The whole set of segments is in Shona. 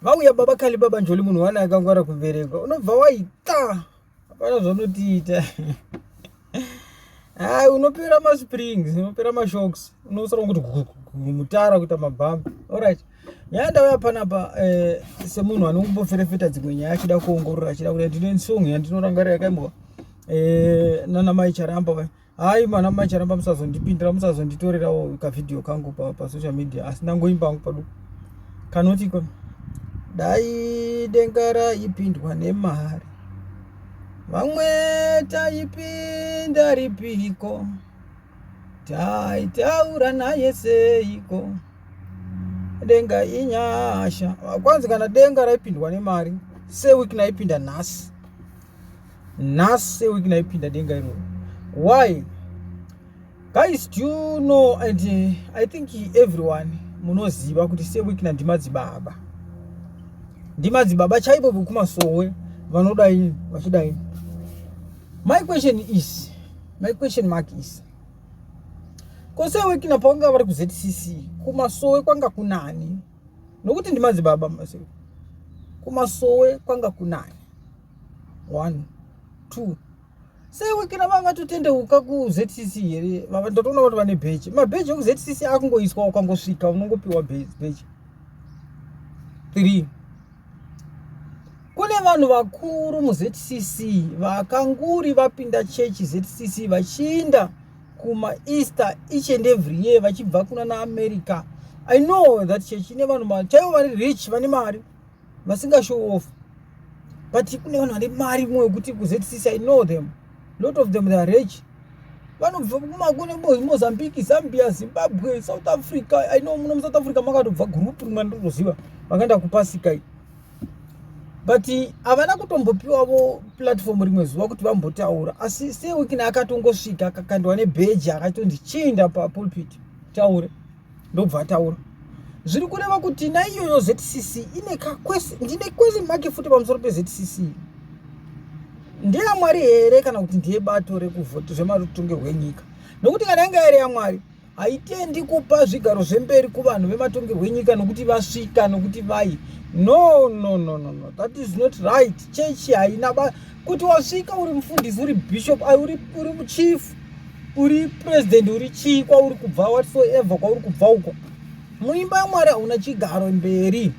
vauya baba kali baba njoli munhu wani akangwara kubereka unobva waita hapana zvaunotiita hai unopera masprings unopera mashocks unosara kuti mutara kuita mabhambi orit nyaya ndauya panapa eh, semunhu anongoboferefeta dzimwe nyaya achida kuongorora achida kuti ndine song yandinorangarira yakaimbowa eh, nana mai charamba vai Hayi mwana mai charamba musazondipindira musazonditorerawo kavideo kangu pa, pa social media asi ndangoimba hangu padu kanoti ko dai denga raipindwa nemari vamwe taipinda ripiko taitaura naye seiko denga inyasha kwanzi kana denga raipindwa nemari seweek naipinda nhasi nhasi week naipinda denga iroro why guys do you know and uh, i think everyone munoziva kuti seweek na ndimadzibaba ndimadzibaba chaivo vekumasowe vanodai vachidai my question is my question mark is ko seweek na pavanga vari kuzcc kumasowe kwanga kunani nokuti ndimadzibaba masowe kumasowe kwanga kunani one two sei wekina vanga vatotendeuka kuZCC here vava ndotoona kuti vane bheji mabheji ekuZCC akungoiswa ukangosvika unongopiwa bheji three kune vanhu vakuru muZCC vakanguri vapinda chechi ZCC vachiinda kumaeaster each and every year vachibva kuna naamerica i know that chechi ine vanhu chaivo vari rich vane mari vasinga show off but kune vanhu vane mari mwe wekuti kuzcc i know them lot of them they are rich vanobva kumakune mozambique zambia zimbabwe south africa i know muno musouth africa makatobva group rimwe ndotoziva vakaenda kupasika i but havana kutombopiwavo platform rimwe zuva kuti vambotaura asi sewikina akatongosvika akakandwa nebheji akatonzi chiinda papulpit taure ndobva ataura zviri kureva kuti naiyoyo zcc ine kakwese ndine kwese make futi pamusoro pezcc ndeyamwari here kana kuti ndiye bato rekuvhoti zvemarutunge hwenyika nokuti kana yanga yari yamwari haitendi kupa zvigaro zvemberi kuvanhu vematonge hwenyika nokuti vasvika nokuti vai no no no no no that is not right chechi haina kuti wasvika uri mufundisi uri bishop uri uri muchief uri president uri chii kwauri kubva whatsoever kwauri kubva uko muimba yamwari hauna chigaro mberi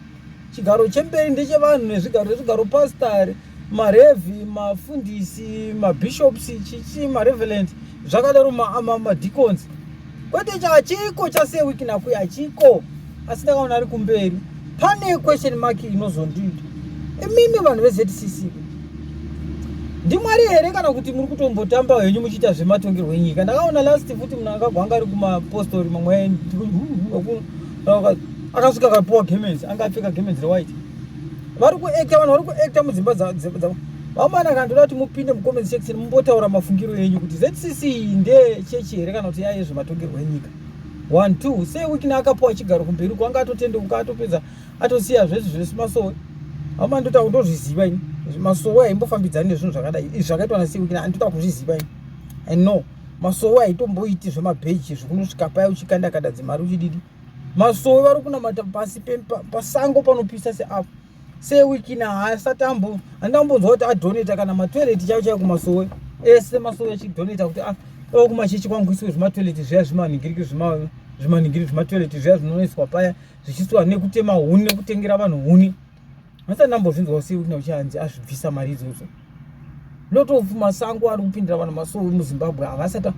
chigaro chemberi ndechevanhu nezvigaro nezvigaro pastari marevi mafundisi mabishops chichi mareveland zvakadaro madicons ma, ma kwete chachiko chasewiki nakuyi hachiko asi ndakaona ari kumberi pane question mark inozondiita imimi vanhu veZCC ndimwari here kana kuti muri kutombotamba henyu muchiita zvematongerwo enyika ndakaona last futi munhu akagwanga ari kumapostori mamwe akasvika akapiwa gemenzi anga apfeka gemenzi rewhite vari kuacta vanhu vari kuacta mudzimba dzavo Vamana kana toda kuti mupinde mucomment section mumbotaura mafungiro enyu kuti ZCC ndeye chechi here kana kuti yaye zvematongerwo enyika. One two sei wikini akapuwa chigaro kumberi uko anga atotendeuka atopedza atosiya zvese zvese masowe. Vamana ndota kundozviziva ini. Masowe aimbofambidzani nezvinhu zvakadai. Izvi zvakaitwa na sei wikini anditoda kuzviziva ini. I know masowe aitomboiti zvemabheji zvekunosvika paya uchikanda kada dzimari uchididi. Masowe vari kunamata pasi pasango panopisa seapo. sewiki na haasati ambo andambonzwa kuti adoneta kana matoilet chaiwo chaiwo kumasowe ese masowe achidoneta kuti ah, o kumachechi kwangu isiwe zvimatoilet zviya zvimanhingiriki zvimanhingiri zvimatoilet zviya zvinonoiswa paya zvichisiwa nekutema huni nekutengera vanhu huni asi andambozvinzwa sewiki na uchanzi azvibvisa mari idzodzo lot of masango ari kupindira vanhu masowe muzimbabwe havasati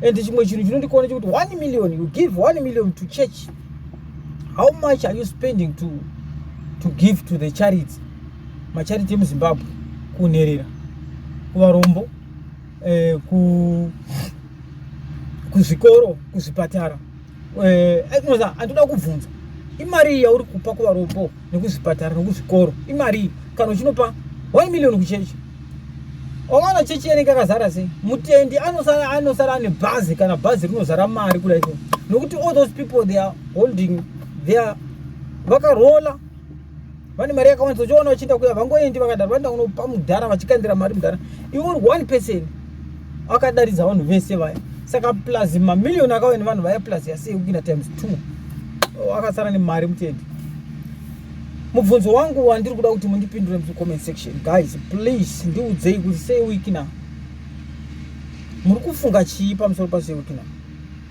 and chimwe chinhu chinondikaona chekuti one million you give one million to church how much are you spending to, to give to the charity macharity emuzimbabwe kunherera kuvarombo eh, kuzvikoro kuzvipatara eh, eh, noza andoda kubvunza imari yauri kupa kuvarombo nekuzvipatara nekuzvikoro imari kana uchinopa one million kuchechi wawana chechi yanenge akazara sei mutendi anosara anosara ane bhazi kana bhazi rinozara mari kudaio nokuti all those people they are holding their vakarola vane mari yakawandisa uchiona vachienda kuya vangoendi vakadaro vanoenda kunopa mudhara vachikandira mari mudhara iwe uri one person akadaridza vanhu vese vaya saka plus mamiliyoni akauya nevanhu vaya plus yasei kupinda times two akasara nemari mutende mubvunzo wangu wandiri kuda kuti mundipindure mucomment section guys please ndiudzei kuti sei wiki na muri kufunga chii pamusoro pasei wiki na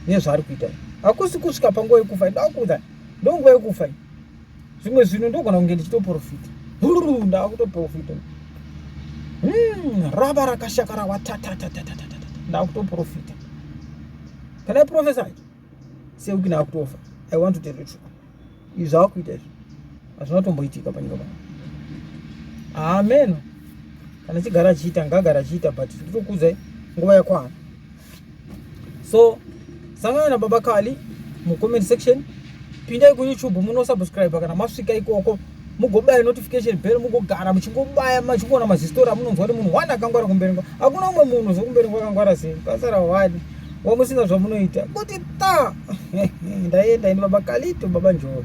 nezvaari kuita hakusi kusvika panguva yekufa ndakuudzai ndonguva yekufa zvimwe zvinhu ndogona kunge ndichitoprofita huru ndava kutoprofita hmm, rava rakashaka rawatatatatata ndava kutoprofita can i profesa i seuki ndava kutofa i want to tell the truth izvi zvava kuita izvi hazvina kutomboitika panyika pano hameno kana chigara achiita ngaagara achiita but nditokuudzai nguva yakwana so sangana na baba kali mu comment section pindai ku youtube muno subscribe kana masvika ikoko mugobaya notification bell mugogara muchingobaya machingoona mazistori amunonzwa kuti munhu wani akangwara kumberengwa hakuna umwe munhu zvokumberengwa akangwara sei pasara wani wamusina zvamunoita kuti ta ndaienda ini baba kalito baba njoro